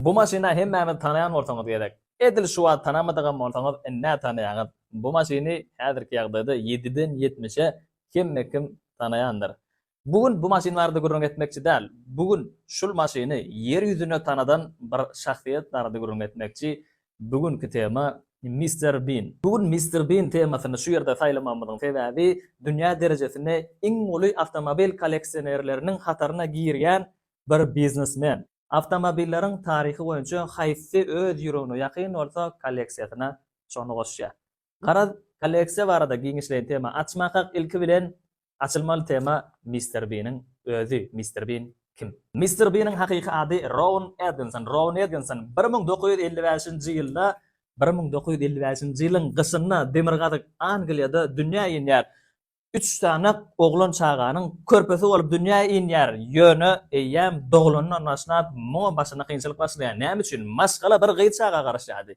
Bu maşyny hemmämiz tanaýan bolsaňyz gerek. Edil şu wagt tanamadygam bolsaňyz indi-ä tanaýaňyz. Bu maşyny häzirki ýagdaýda ýediden ýetmişe hemmekim tanaýandyr. Bu gün bu maşyn barada gürrüň etmekçi däl. Bu gün şul maşyny ýer ýüzüne tanadan bir şahsyýet barada gürrüň etmekçi. Bu günki tema, Mister Bin. Bu gün Mister Bin temasyny şu ýerde saýlamagymyzyň sebäbi, dünýä derejesinde iň uly awtomobil kolleksionerleriniň hataryna girýän bir biznesmen. Awtomobilleriň taryhy boýunça haýsy öz ýüregine ýakyn bolsa, kolleksiýasyna şony goşýar. Garaz, kolleksiýa barada giňişleýin tema açmakak, ilki bilen, açylmaly tema Mister Biniň özi. Mister Bin kim? Mister Biniň hakyky ady Rowan Edginson. Rowan Edginson bir müň dokuz ýüz elli bäşinji ýylda, bir müň dokuz ýüz elli bäşinji ýylyň gyşynda demirgazyk Angliýada dünýä inýär. Üç sany oglan çaganyň körpesi bolup dünýä inýär, ýöne eýýäm doglanyndan başlap muňa başyna kynçylyk başlaýar. Näme üçin? Maşgala bir gyz çaga garaşýardy.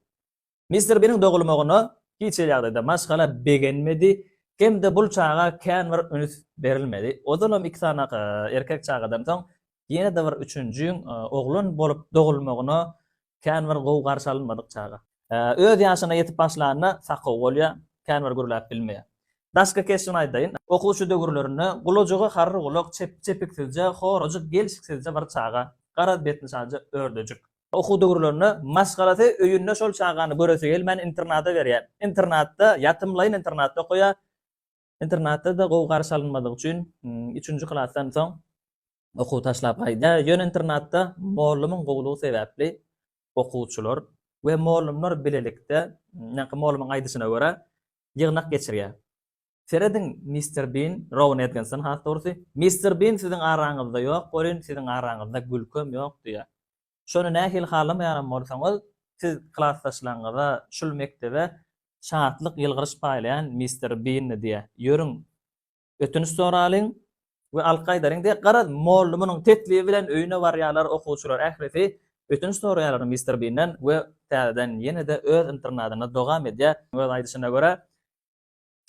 Mister Biniň dogulmagyna hiç hili ýagdaýda maşgala begenmedi hem-de bul çaga kän bir üns berilmedi. Ozalam iki sany erkek çagadan soň ýene-de bir üçünjiň oglan bolup dogulmagyna Kän bir gowy garşy alynmadyk çaga. Öz ýaşyna ýetip başlanda sakaw bolýar, kän bir gürläp bilmeýär. Daşky keşbini aýdaýyn. Okuwçy döwürlerinde gulajygy harry gulak, çepiksizje, horajyk, gelşiksizje bir çaga. Garaz betini şaja ördejik. Okuw döwürlerinde maşgalasy öýünde şol çagany göresi gelmän internada berýär. Internatda, ýatymlaýyn internatda okaýar. Internatda-da gowy garşy alynmadygy üçin, üçünji klasdan soň okuwy taşlap gaýdýar. Ýöne internatda mollumyň gowulygy sebäpli okuwçylar we mollumlar bilelikde, ýaňky mollumyň aýdyşyna görä, ýygnak geçirýär. Serediň, Mister Bin, Rowan Edginson, has dogrusy, Mister Bin siziň araňyzda ýok welin, siziň araňyzda gülkem ýok diýýär. Şony nähili halamaýanam bolsaňyz, siz klasdaşlaryňyza şul mekdebe şatlyk, ýylgyryş paýlaýan mister Binni diýe ýörüň, ötünç soralyň we alky aýdalyň diýe. Garaz, mollumynyň teklibi bilen öýüne barýarlar okuwçylar ählisi, ötünç soraýarlar mister Binden we täzeden ýene-de öz internadyna dogam edýär. Öz aýdyşyna görä,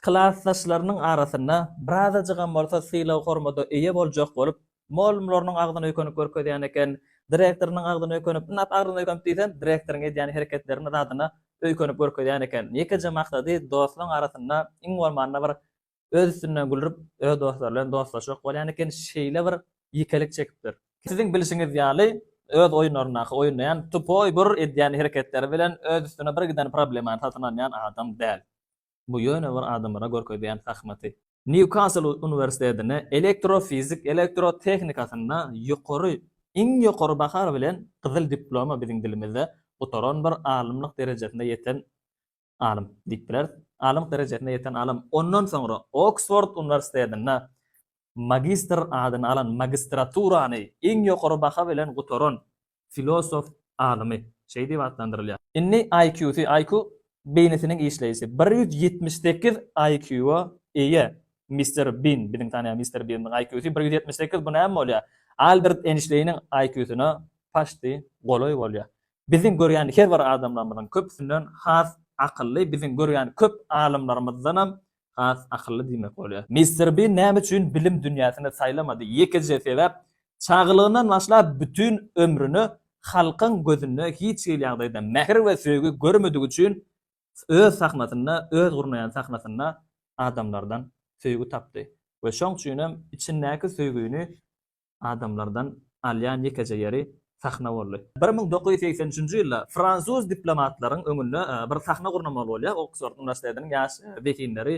Klasdaşlarynyň arasynda birazajygam bolsa sylag-hormada eýe boljak bolup, mugallymlarynyň agzyna öýkenip görkezýän eken, direktorynyň agzyna öýkenip, ynha, agzyna öýkenip diýsem, direktoryň edýän hereketlerine, zadyna öýkenip görkezýän eken. Ýekeje maksady, dostlaryň arasynda iň bolmanda bir öz üstünden gülrüp, öz dostlary bilen dostlaşmak bolýan eken, şeýle bir ýekelik çekipdir. Siziň bilşiňiz ýaly, öz oýunlaryndaky oýnaýan tupoý bir edýän hereketleri bilen öz üstüne birgiden problemany satyn alýan adam däl. Bu ýöne bir adamlara görkezýän zahmaty. Nýukasl uniwersitetine elektrofizik elektrotehnikasynda ýokary, iň ýokary baha bilen gyzyl diploma biziň dilimizde gutaran bir alymlyk derejesine ýeten alym diýip bileris. Alymlyk derejesine ýeten alym. Ondan soňra Oksford uniwersitetinde magistr adyny alan magistraturany iň ýokary baha bilen gutaran filosof alymy şeý diýip atlandyrylýar. Indi IQ-sy, IQ beýnisiniň işleýşi, bir ýüz ýetmiş sekiz IQ-a eýe Mister Bin, biziň tanýan Mister Biniň IQ-sy bir ýüz ýetmiş sekiz, bu näme bolýar? Albert Eýnşteýniň IQ-syna paçti golaý bolýar. Biziň görýän her bir adamlarymyzyň köpüsinden has akylly, biziň görýän köp alymlarymyzdanam has akylly diýmek bolýar. Mister Bin näme üçin bilim dünýäsini saýlamady? Ýekeje sebäp, çagalygyndan başlap bütin ömrüni halkyň gözünde hiç hili ýagdaýda mähir we söýgi görmedigi üçin öz sahnasynda, öz gurnaýan sahnasynda adamlardan söýgi tapdy we şoň üçinem içindäki söýgüni adamlardan alýan ýekeje ýeri sahna boldy. Bir müň dokuz ýüz segsen üçünji ýylda fransuz diplomatlaryň öňünde bir sahna gurnamaly bolýar, Oksford uniwersitetiniň ýaş zehinleri,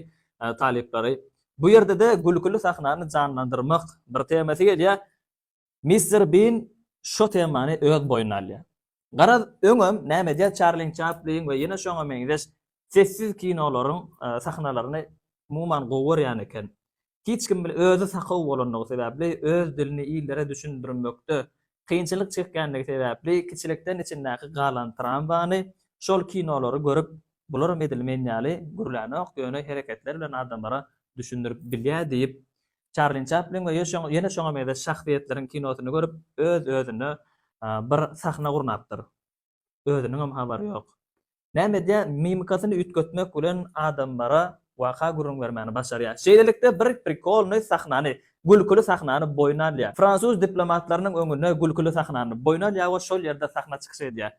talyplary. Bu ýerde-de gülküli sahnany janlandyrmak bir temasy gelýär. Mister Bin şo temany öz boýnuna alýar. Garaz, öňem näme edýär Çarlin Çaplin we ýene şoňa meňzeş sessiz kinolaryň sahnalaryny umuman gowy görýän eken. Hiç kim bilen özi sakow bolandygy sebäpli, öz dilini illere düşündirmekde kynçylyk çekýändigi sebäpli kiçilikden içindäki galan tramwany şol kinolary görüp bularam edil men ýaly gürlänok ýöne hereketler bilen adamlara düşündirip bilýär diýip Çarlin Çaplin we ýene şoňa meňzeş şahsyýetleriň kinosyny görüp, öz-özüne bir sahna gurnapdyr. Özüniňem habary ýok. Näme edýär, mimikasyny üýtgetmek bilen adamlara waka gürrüň bermäni başarýar. Şeýlelikde bir prikolnyý sahnany, gülküli sahnany boýun alýar. Fransuz diplomatlarynyň öňünde gülküli sahnany boýun alýar we şol ýerde sahna çykyş edýär.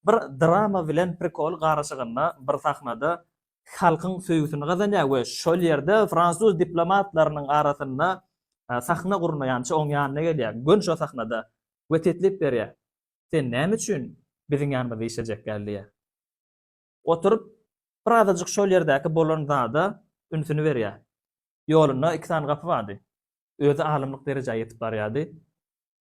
Bir drama bilen prikol garyşygynda bir sahnada halkyň söýgüsini gazanýar we şol ýerde fransuz diplomatlarynyň arasynda sahna gurnaýança oň ýanyna gelýär, göni şo sahnada we teklip berýär, Sen näme üçin biziň ýanymyzda işlejek däl diýýär. Oturyp bir azajyk şol ýerdäki bolan zada ünsüni berýär. Ýolunda iki sany gapy bardy. Özi alymlyk derejä ýetip barýardy.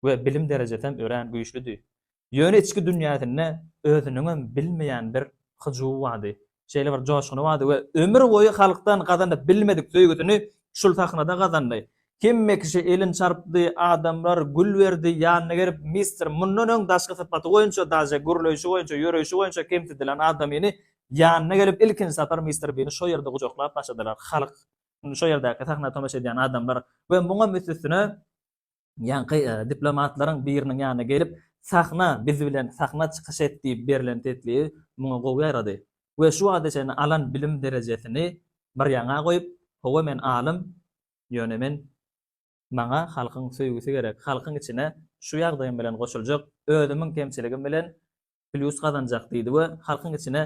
we bilim derejesem örän güýçlüdi. Ýöne içki dünýäsinde özüniňem bilmeýän bir hyjuwy bardy. Şeýle bir joşguny bardy we ömür boýy halkdan gazanyp bilmedik söýgüsini şul sahnada gazandy. Hemme kişi elin çarpdy, adamlar gül berdi, ýanyna gelip Mister mundan öň daşky sypaty boýunça daže gürleýşi boýunça, ýöreýşi boýunça kemsidilen adamyny ýanyna gelip ilkinji sapar Mister Bini şo ýerde gujaklap başladylar halk, şo ýerdäki sahna tomaşa edýän adamlar we muňam üst-üstüne Ýaňky diplomatlaryň biriniň ýanyna gelip, Sahna, biz bilen sahna çykyş et diýip berlen teklibi muňa gowy ýarady we şu wagta çenli alan bilim derejesini bir ýaňa goýup, Hawa men alym, ýöne men maňa halkyň söýgüsi gerek, halkyň içine şu ýagdaýym bilen goşuljak, özümiň kemçiligim bilen plýus gazanjak diýdi we halkyň içine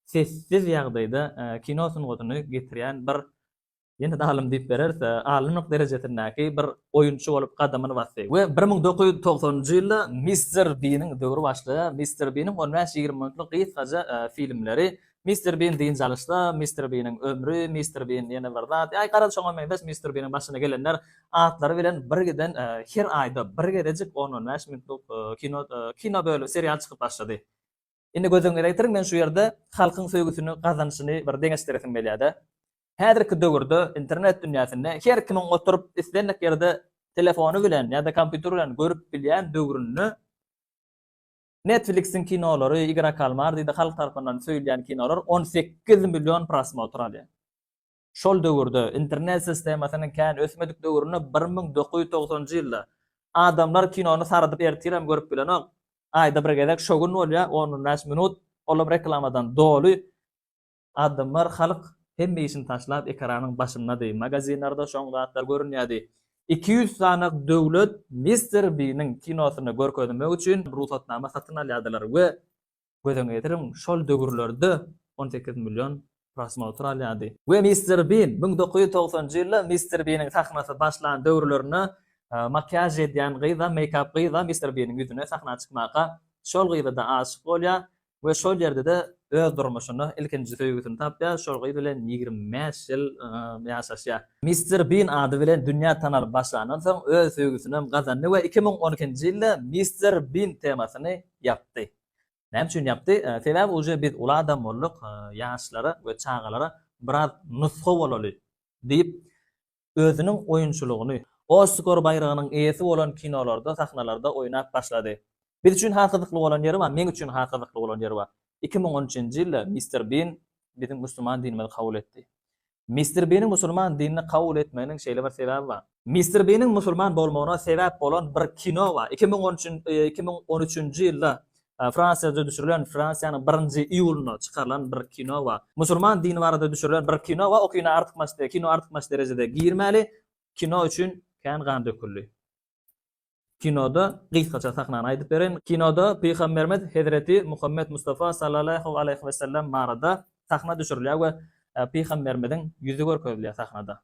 sessiz ýagdaýda kino sungatyny getirýän bir Ýene-de alym diýip bereris, alymlyk derejesindäki bir oýunçy bolup gadamyny basdy. We bir müň dokuz ýüz togsanynjy ýylda Mister Biniň döwri başlaýar. Mister Biniň on bäş, ýigrimi minutlyk gysgaja filmleri, Mister Bin dynç alyşda, Mister Biniň ömri, Mister Bin ýene bir zat, ýa-da garaz şoňa meňzeş Mister Biniň başyna gelenler atlary bilen birgiden her aýda bir gezejik on-on bäş minutlyk kino, kino bölüm, serial çykyp başlady. Indi gözüňize getiriň, men şu ýerde halkyň söýgüsini gazanyşyny bir deňeşdiresim gelýär-de. Häzirki döwürde internet dünýäsinde her kimiň oturyp islendik ýerde telefony bilen ýa-da kompýuteri bilen görüp bilýän döwründe Netflix-iň kinolary, Igora Kalmar diýdi, halk tarapyndan söýülýän kinolar on sekiz million prosmotr alýar. Şol döwürde, internet sistemasynyň kän ösmedik döwründe bir müň dokuz ýüz togsanjy ýylda, adamlar kinony saradyp ertirem görüp bilenok, aýda bir gezek şo gün bolýar, on on bäş minut, olam reklamadan doly. Adamlar, halk hemme işini taşlap ekranyň başyndady, magazinlerde şoň zatlar görünýärdi. Iki ýüz sanak döwlet Mister Biniň kinosyny görkezmek üçin rugsatnama satyn alýardylar we Göz-öňe getiriň, şol döwürlerde on sekiz million prosmotr alýardy. We Mister Bin, müň dokuz ýüz togsanjy ýylda Mister Biniň sahnasy başlan döwürlerinde makiýaž edýän gyz-a, meýkap gyz-a Mister Biniň ýüzüne sahna çykmaka, şol gyza-da aşyk bolýar we şol ýerde-de öz durmuşyny, ilkinji söýgüsini tapýar, şol gyz bilen ýigrimi bäş ýyl ýaşaşýar. Mister Bin ady bilen dünýä tanalyp başlandan soň, öz söýgüsinem gazandy we iki müň on ikinji ýylda Mister Bin temasyny ýapdy. Näme üçin ýapdy? Sebäbi uje biz uly adam bolduk, ýaşlara we çagalara biraz nusga bolaly diýip, özüniň oýunçylygyny, Oskar baýragynyň eýesi bolan kinolarda, sahnalarda oýnap başlady. Biz üçin has gyzykly bolan ýeri bar, meň üçin has gyzykly bolan ýeri bar. Iki müň on üçünji ýylda Mister Bin biziň musulman dinimizi kabul etdi. Mister Biniň musulman dinini kabul etmeginiň şeýle bir sebäbi bar. Mister Biniň musulman bolmagyna sebäp bolan bir kino bar. Iki müň on iki müň on üçünji ýylda Fransiýada düşürilen, Fransiýanyň birinji iýulynda çykarylan bir kino bar. Musulman dini barada düşürilen bir kino bar, o kino artykmaç kino artykmaç derejede girmäli, kino üçin kän gan döküldi. Kinoda gysgaça sahnany aýdyp bereýin. Kinoda Pygamberimiz Hezreti Muhammet Mustafa Sallallahu Aleýhi Wesellem barada sahna düşürilýär we Pygamberimiziň ýüzi görkezilýär sahnada.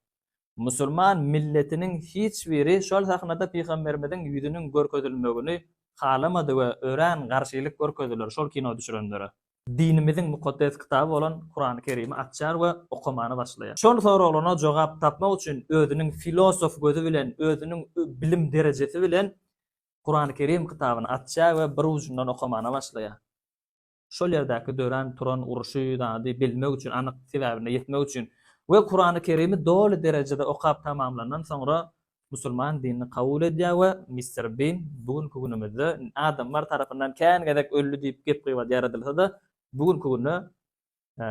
Musulman milletiniň hiç biri şol sahnada Pygamberimiziň ýüzüniň görkezilmegini halamady we örän garşylyk görkezdiler şol kino düşürenlere. dinimiziň mukaddes kitaby bolan Kurany Kerimi açýar we okamana başlaýar. Şol soraglaryna jogap tapmak üçin özüniň filosof gözi bilen, özüniň bilim derejesi bilen Kurany Kerim kitabyny açýar we bir ujundan okamana başlaýar. Şol ýerdäki dörän, turan, uruşy, zady bilmek üçin, anyk sebäbine ýetmek üçin we Kurany Kerimi doly derejede okap tamamlandan soňra musulman dinini kabul edýär we Mister Bin bu günki günümizde adamlar tarapyndan kän gezek öldi diýip gep-gybat ýaradylsa-da, bu günki günde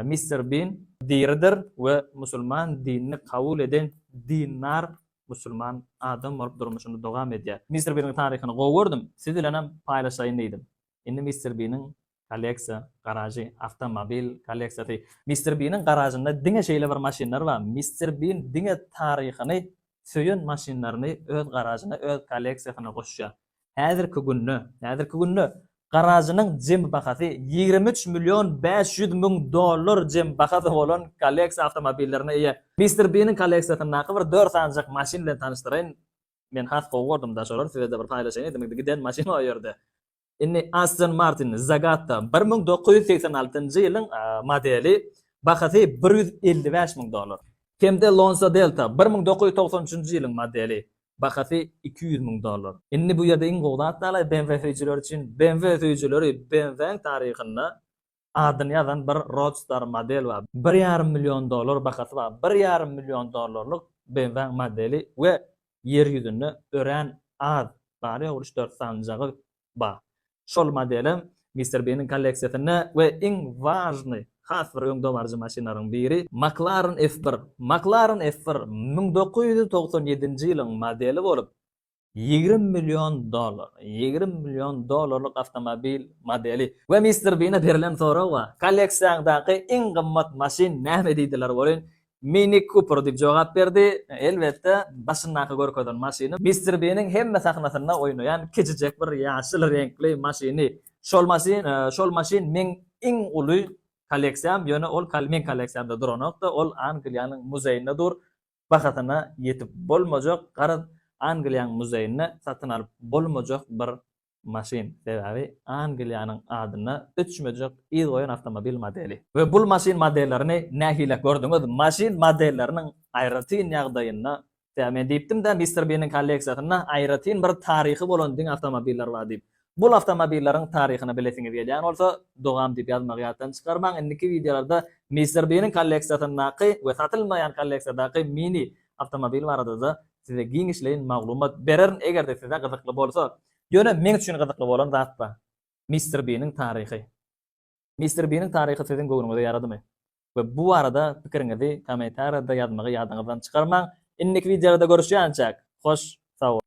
Mister Bin diridir we musulman dinini kabul eden dindar musulman adam bolup durmuşyny dowam edýär. Mister Biniň taryhyny gowy gördüm, siz bilenem paýlaşaýyn diýdim. Indi Mister Biniň kolleksiýa garažy, awtomobil kolleksiýasy. Mister Biniň garažynda diňe şeýle bir maşynlar bar. Mister Bin diňe taryhyny söýen maşynlaryny öz garažyna, öz kolleksiýasyna goşýar. Häzirki günde, häzirki günde garažynyň jemi bahasy ýigrimi üç million bäş ýüz müň dollar jemi bahasy bolan kolleksiýa awtomobillerine eýe. Mister Biniň kolleksiýasyndaky bir dört sanjak maşyn bilen tanyşdyraýyn. Men has gowy gordum daş olar sizede bir paýlaşaýyn edimizde giden maşyn o ýerde. Indi Aston Martin Zagatta bir müň dokuz ýüz segsen altynjy ýylyň modeli bahasy bir ýüz elli bäş müň dollar. Hemde Lonsa Delta bir müň dokuz ýüz togsan üçünji ýylyň modeli bahasy iki ýüz müň dollar. Indi bu ýerde iň gowy zat dalaý BMW söýüjileri üçin BMW söýüjileri BMW-iň taryhynda Adyny ýazan bir Roadster model bar. Bir ýarym million dollar bahasy bar. Bir ýarym million dollarlyk BMW-nyň modeli we Ýer ýüzünde örän az, bary-ýogy üç dört sanjagy bar. Şol modelem Mister Biniň kolleksiýasynda we iň wažnyý, has bir öňdebaryjy maşynlaryň biri McLaren F bir. McLaren F bir müň dokuz ýüz togsan ýedinji ýylyň modeli bolup, Ýigrimi million dollar. Ýigrimi million dollarlyk awtomobil modeli. We Mister Bine berilen soraga, Kolleksiýaňdaky iň gymmat maşyn näme diýdiler welin, Mini Cooper diýip jogap berdi. Elbetde, başyndaky görkezen maşyny Mister Biniň hemme sahnasynda oýnaýan kiçijek bir ýaşyl reňkli maşyny. Şol maşyn, şol maşyn meň iň uly kolleksiýam, ýöne ol meň kolleksiýamda duranok-da, ol Angliýanyň muzeýinde dur. bahasyna ýetip bolmajak, garaz, Angliýanyň muzeýinde satyn alyp bolmajak bir maşyn, sebäbi Angliýanyň adyna öçmejek yz goýan awtomobil modeli. We bul maşyn modellerini nähile gördüňiz? Maşyn modelleriniň aýratyn ýagdaýynda, sebäbi men diýipdim-dä, Mister Biniň kolleksiýasynda aýratyn bir taryhy bolan diňe awtomobiller bar diýip. Bul awtomobilleriň taryhyny bilesiňiz gelýän bolsa, dogam diýip ýazmagy ýatdan çykarmaň. Indiki wideolarda Mister Biniň kolleksiýasyndaky we satylmaýan kolleksiýadaky mini awtomobil barada-da size giňişleýin maglumat bererin, eger-de size gyzykly bolsa. Ýöne men üçin gyzykly bolan zat bar. Mister Biniň taryhy. Mister Biniň taryhy siziň göwnüňize ýaradymy? We bu barada pikiriňizi kommentariýada ýazmagy ýadyňyzdan çykarmaň. Indiki wideolarda görüşýänçäk, hoş sag boluň!